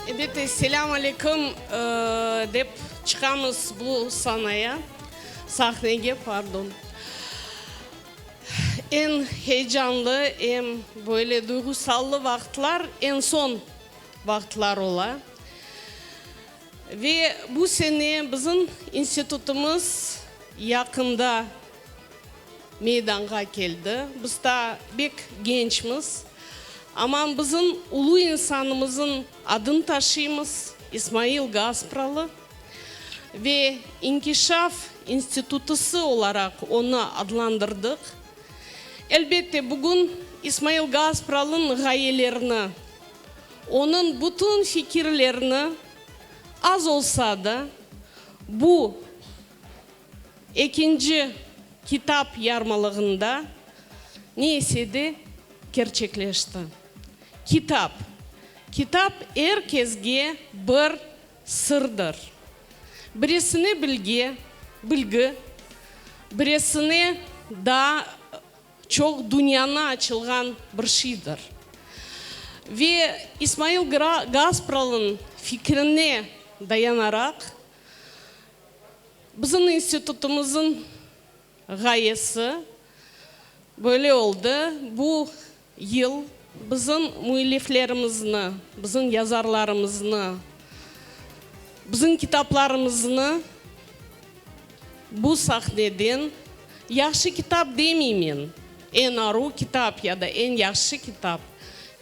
Elbette, selâm aleyküm dep çıqamız bu sanaya, sahnege, pardon. Eñ heyecanlı, eñ böyle duyğusallı vaqıtlar, eñ soñ vaqıtlar ola. Ve bu sene bizim institutımız yaqında meydanğa keldi. Biz ta bek gençmiz, amma bizim ulu insanımızın adın taşıymız, İsmail Gaspralı, ve İnkişaf institutısı olaraq onı adlandırdıq. Elbette, bugün İsmail Gaspralınıñ ğayelerini, onıñ bütün fikirlerini az olsa da bu, Ekinci kitap yarmalığında ne ise de kerçekleşti. Kitap. Kitap er kesge bir sırdır. Biresine bilge, bilgi, biresine daa çoq dünyanı açılğan bir şiydir. Ve İsmail Gra Gaspralın fikrine dayanaraq, Bizim institutımızın ğayesi böyle oldı, bu yıl bizim müelliflerimizni, bizim yazarlarımıznı, bizim kitaplarımıznı bu sahneden, yahşı kitap demeymen, eñ aru kitap ya da eñ yahşı kitap,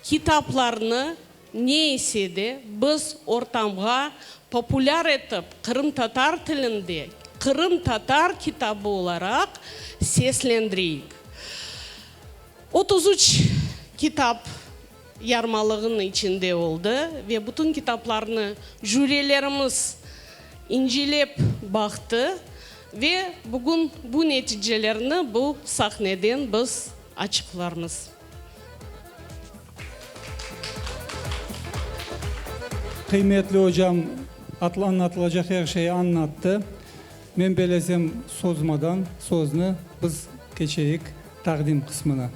kitaplarnı Ne ise de, biz ortamğa populâr etip qırımtatar tilinde Qırımtatar kitabı olaraq seslendireyik. Otuz üç kitap yarmalığınıñ içinde oldı ve bütün kitaplarnı jürilerimiz incilep baqtı ve bugün bu neticelerni bu sahneden biz açıqlarmız. Qıymetli ocam anlatılacaq er şeyi anlattı. Men belesem sozmadan soznı biz keçeyik taqdim qısmına.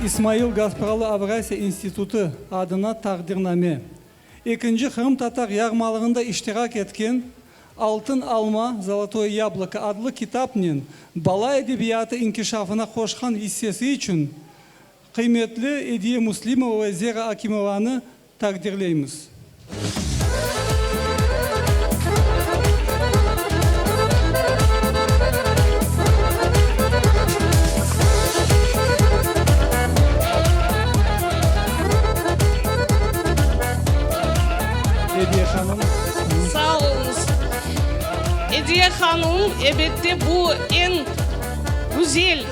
İsmail Gaspralı Avrasiya institutı adına taqdirname. Ekinci qırımtatar yarmalığında iştirak etken Altın alma, Zolotoye yabloko, adlı kitapnen bala edebiyatı inkişafına qoşqan issesi içün qıymetli Ediye Muslimova ve Zera Akimovanı taqdirleymiz. Ediye hanım. Sağ oluñız. Ediye hanım, ebette, bu eñ güzel,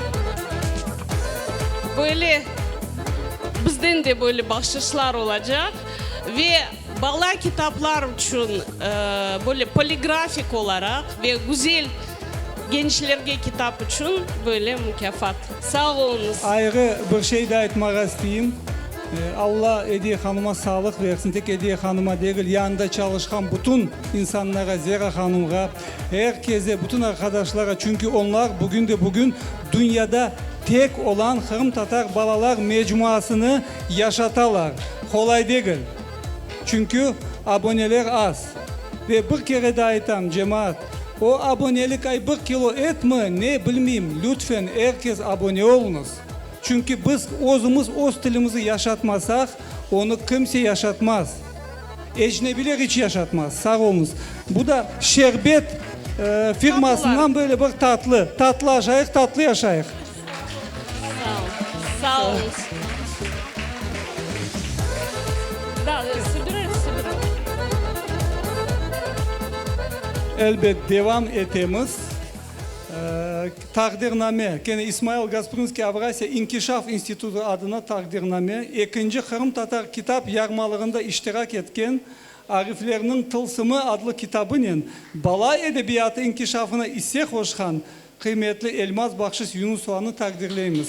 böyle, bizden de böyle bahşışlar olacaq. Ve bala kitaplar içün, böyle, poligrafik olaraq ve güzel gençlerge kitap içün, böyle, mukâfat. Sağ oluñız. Ayrı bir şey de aytmağa isteyim. Alla Ediye hanıma sağlıq versin, tek Ediye hanıma degil, yanında çalışqan bütün insanlara, Zera hanımğa, er keze, bütün arqadaşlara, çünki onlar bugün de bugün dünyada tek olan qırımtatar balalar mecmuasını yaşatalar. Qolay degil, çünki aboneler az. Ve bir kere daa aytam, cemaat, o abonelik ay bir kilo etmi, ne, bilmeyim, lütfen er kes abone oluñız. Çünki biz özümiz öz tilimizi yaşatmasaq, onı kimse yaşatmaz. Ecnebiler iç yaşatmaz. Sağ olunız. Bu da Şerbet firmasından böyle bir tatlı. Tatlı aşayıq, tatlı yaşayıq. Sağ olunız. Elbet devam etemiz. Taqdirname, kene İsmail Gasprınskiy Avrasiya inkişaf institutı adına taqdirname, ekinci qırımtatar kitap yarmalığında iştirak etken ariflerniñ tılsımı adlı kitabınen, bala edebiyatı inkişafına isse qoşqan qıymetli Elmaz Bahşis Yunusovanı taqdirleymiz.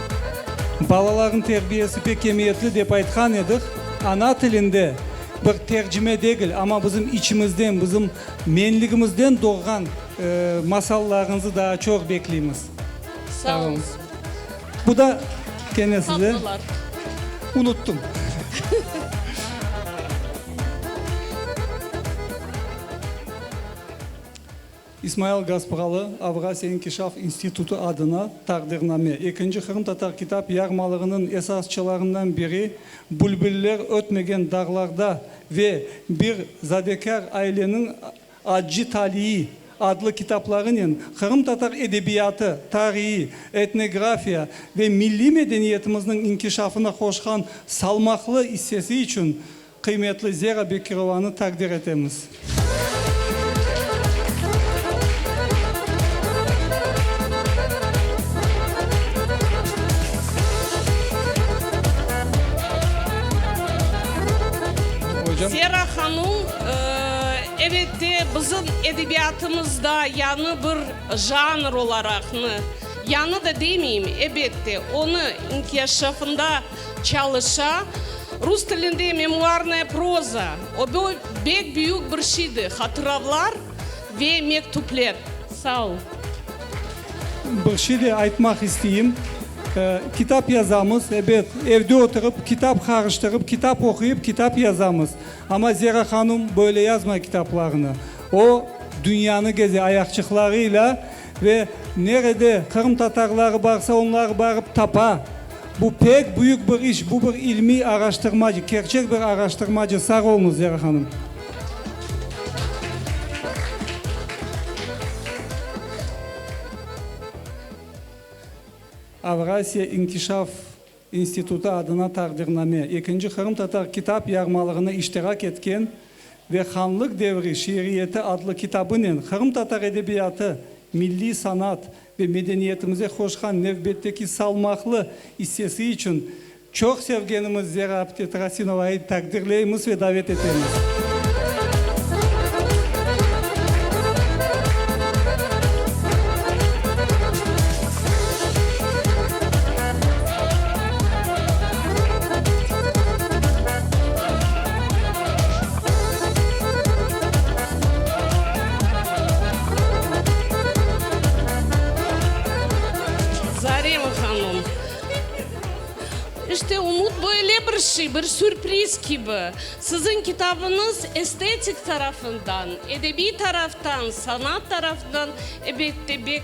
Balalarnıñ terbiyesi pek emiyetli dep aytqan edik. Ana tilinde, bir tercime degil, amma bizim içimizden, bizim menligimizden doğğan masallarıñızı daa çoq bekleymiz. Sağ olıñız. Bu da kene size. Tatlılar. Unuttım. İsmail Gaspıralı Avrasiya inkişaf institutı adına taqdirname, ekinci qırımtatar kitap yarmalığınıñ esasçılarından biri Bülbüller ötmegen dağlarda ve Bir zadekâr aileniñ acci taliyi adlı kitaplarınen qırımtatar edebiyatı, tarihi, etnografiya ve milliy medeniyetimizniñ inkişafına qoşqan salmaqlı issesi içün Qıymetli Zera Bekirovanı taqdir etemiz. Zera hanum, ebet de, bizim edebiyatımızda yañı bir janr olaraqnı, yañı da demeyim, ebet de, onı inkişafında Çalışa. Rus tilinde memuarnaya proza. O bu bek büyük bir şeydi, hatıravlar ve mektüpler. Sağ ol. Bir şey de aytmaq isteyim. Kitap yazamız, ebet, evde oturıp, kitap qarıştırıp, kitap oquyıp, kitap yazamız. Amma Zera hanum böyle yazmay kitaplarını. O, dünyanı geze ayaqçıqlarıyla. Ve nerede qırımtatarları barsa, onları barıp tapa. Bu pek büyük bir iş, bu bir ilmiy araştırmacı, kerçek bir araştırmacı. Sağ oluñız, Zera hanım. Avrasiya inkişaf institutı adına taqdirname, ekinci qırımtatar kitap yarmalığına iştirak etken ve Hanlıq devri şiiriyeti adlı kitabınen qırımtatar edebiyatı, milliy sanat ve medeniyetimize qoşqan nevbetteki salmaqlı issesi içün çoq sevgenimiz Zera apte Trasinovayı taqdirleymiz ve davet etemiz. Zarema hanım, İşte umut böyle bir şey, bir sürpriz kibi. Siziñ kitabıñız estetik tarafından, edebiy taraftan, sanat tarafından, elbette, pek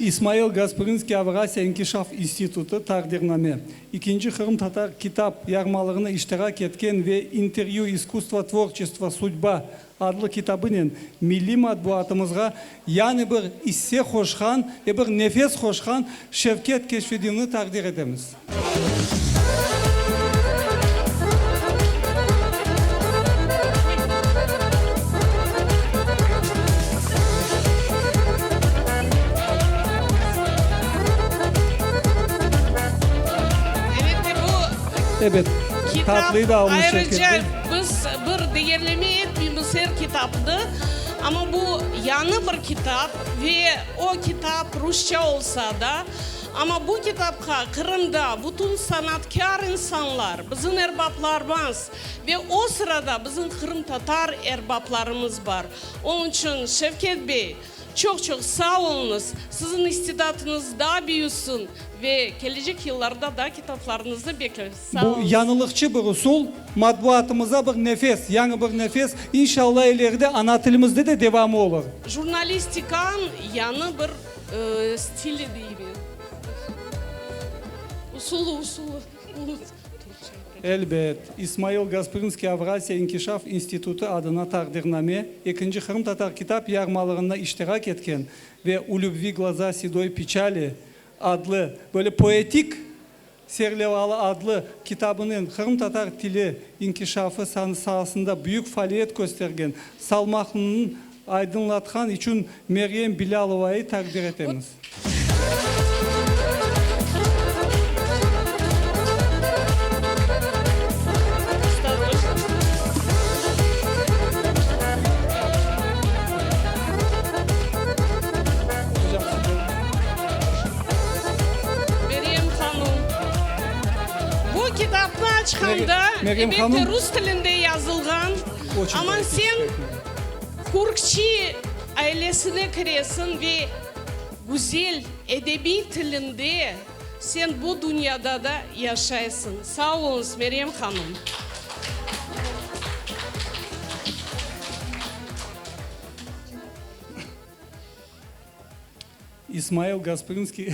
İsmail Gasprinskiy Avrasiya inkişaf institutı, Taqdirname, İkinci qırımtatar kitap yarmalığına iştirak etken ve İntervyu, iskustvo, tvorçestvo, sudba, Adlı kitabınen milliy matbuatımızğa yani bir isse qoşqan ve bir nefes qoşqan Şevket Keşfedinni taqdir etemiz. Ebet, tatlıyı da almış Şevket'ten. Biz bir deyerleme etmeymiz er kitapnı, amma bu yañı bir kitap ve o kitap rusça olsa da, amma bu kitapqa Qırımda bütün sanatkâr insanlar, bizim erbaplarmız ve o sırada bizim qırımtatar erbaplarımız bar. Onıñ içün Şevket bey, çoq-çoq sağ oluñız, siziñ istidatıñız daa büyüsin ve kelecek yıllarda daa kitaplarıñıznı bekleriz. Bu yañılıqçı bir usul, matbuatımıza bir nefes, yañı bir nefes. İnşalla ileride ana tilimizde de devamı olur. Jurnalistikanıñ yañı bir stili deymen, usulı, usulı, unuttum Türkçe. Elbet, İsmail Gasprinskiy Avrasiya inkişaf institutı adına taqdirname, ekinci qırımtatar kitap yarmalığında iştirak etken ve U lübvi gloza sedoi piçali adlı böyle poetik Serlevalı adlı kitabınen qırımtatar tili inkişafı saasında büyük faaliyet köstergen Salmaqlınıñ aydınlatqan içün Meryem Bilâlovayı taqdir etemiz. Meryem hanum, bu kitapnı açqanda, elbette, rus tilinde yazılğan, amma sen Kürkçi ailesine kiresiñ ve güzel edebiy tilinde sen bu dünyada da yaşaysıñ. Sağ oluñız, Meryem hanum. İsmail Gasprinskiy,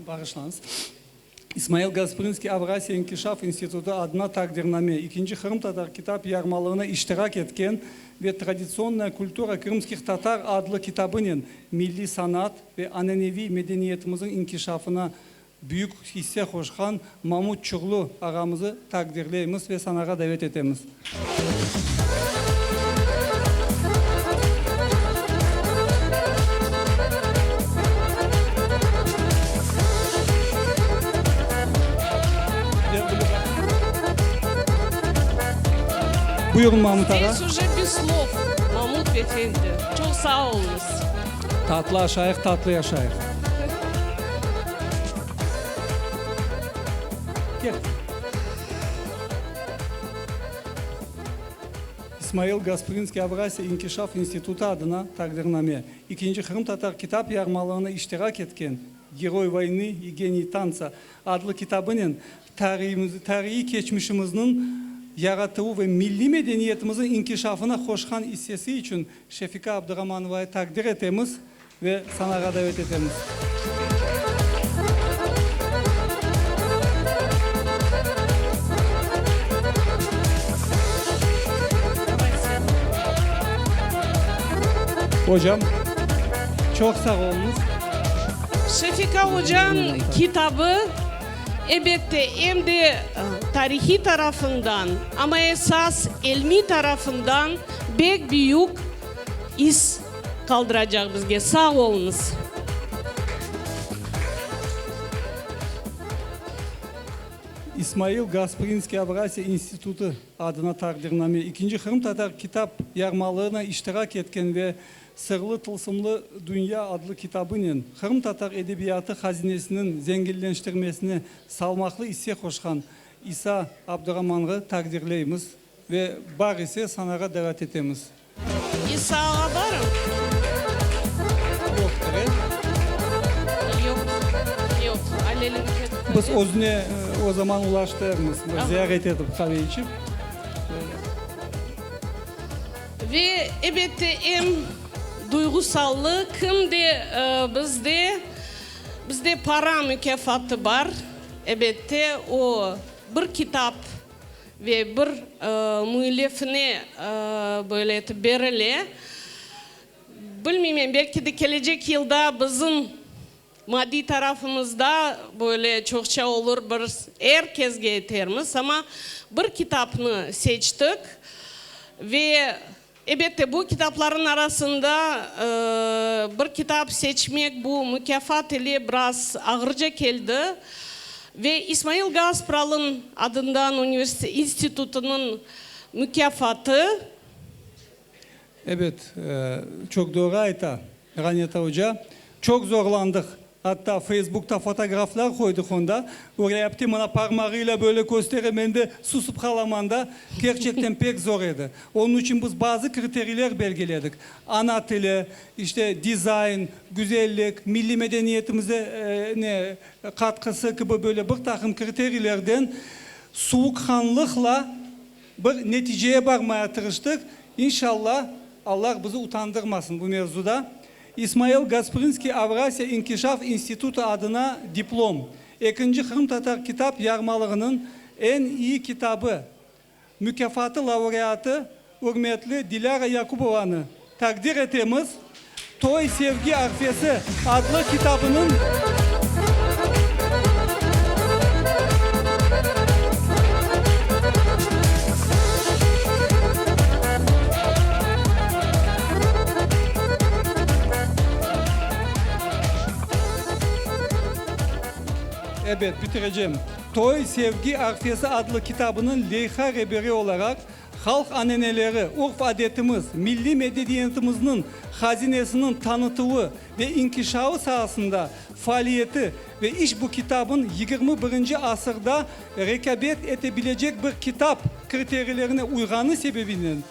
bağışlañız, İsmail Gasprinskiy Avrasiya İnkişaf İnstitutı adına taqdirname, İkinci qırımtatar kitap yarmalığına iştirak etken ve Traditsionnoye kultura krımskih tatar adlı kitabınen milliy sanat ve ananeviy medeniyetimiziñ inkişafına Büyük hisse qoşqan Mamut Çuğlu ağamızı taqdirleymiz ve sanağa davet etemiz. Buyurun Mamut ağa. Tatlı aşayıq, tatlı yaşayıq. Kel. İsmail Gasprinskiy Avrasiya inkişaf institutı adına taqdirname, İkinci qırımtatar kitap yarmalığına iştirak etken Geroy voyni i geniy tantsa adlı kitabınen tariyimiz, tariyiy keçmişimizniñ yaratuvı ve milliy medeniyetimiziñ inkişafına qoşqan issesi içün Şefika Abduramanova taqdir etemiz ve sanağa davet etemiz. Ocam, çoq sağ oluñız. Şefika ocanıñ kitabı, ebette, em de tarihiy tarafından, amma esas ilmiy tarafından, bek büyük is qaldıracaq bizge. Sağ oluñız. İsmail Gasprinskiy Avrasiya İnstitutı adına taqdirname, İkinci qırımtatar kitap yarmalığına iştirak etken ve Sırlı tılsımlı dünya adlı kitabınen qırımtatar edebiyatı hazinesiniñ zenginleştirmesine salmaqlı isse qoşqan İsa Abduramanğı taqdirleymiz. Ve bağ ise sanağa davet etemiz. İsağa barıñ. Yoq dere. Yoq, yoq, Alelin ketti. Biz özüne o zaman ulaştırmız, ziyaret etip, qave içip. Ve ebette em duyğusallı kim de bizde, bizde para mukâfatı bar, ebette o bir kitap. Ve bir müellifine böyle etip berile. Bilmeymen, belki de kelecek yılda bizim maddiy tarafımızda böyle çoqça olur, bir er kezge etermiz. Amma bir kitapnı seçtik ve Ebette, bu kitaplarnıñ arasında bir kitap seçmek bu mukâfat ile biraz ağırca keldi. Ve İsmail Gaspralın adından universitet institutınıñ mukâfatı. Ebet, çoq doğru ayta Ğaneta oca. Çoq zorlandıq. Atta Feysbukta fotograflar qoydıq onda, ürepti, mına parmağıyla böyle köstere, men de susıp qalaman da, kerçekten pek zor edi. Onıñ içün biz bazı kriteriyler belgiledik, ana tili, işte, dizayn, güzellik, milliy medeniyetimize, ne, qatqısı kibi böyle bir taqım kriteriylerden suvuqqanlıqla bir neticeye barmaya tırıştık. İnşallah, Allah bizi utandırmasın bu mevzuda. İsmail Gasprinskiy Avrasiya inkişaf institutı adına diplom, Ekinci qırımtatar kitap yarmalığınıñ eñ iyi kitabı mukâfatı laureatı ürmetli Dilâra Yakubovanı taqdir etemiz, Toy sevgi arfesi adlı kitabınıñ. Ebet, bitirecem. Toy, sevgi arfesi adlı kitabınıñ leyha reberi olaraq, halq aneneleri, urf-adetimiz, milliy medediyetimizniñ hazinesiniñ tanıtuvı ve inkişavı saasında faaliyeti ve işbu kitabın yigirmi birinci asırda rekâbet ete bilecek bir kitap kriteriylerine uyğanı sebebinen,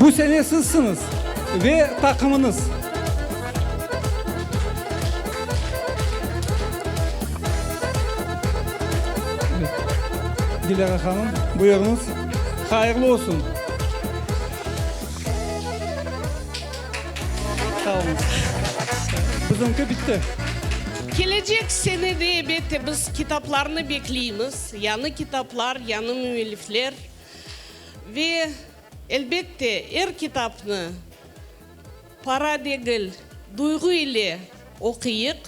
Bu sene sizsiñiz ve taqımıñız. Dilara hanım, buyurıñız. Hayırlı olsun. Sağ olunız. Bizimki bitti. Kelecek sene de ebette biz kitaplarnı bekleymiz, yañı kitaplar, yañı müellifler. Ve elbette er kitapnı para degil, duyğu ile oquyıq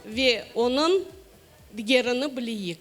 ve onıñ digerini bileyik.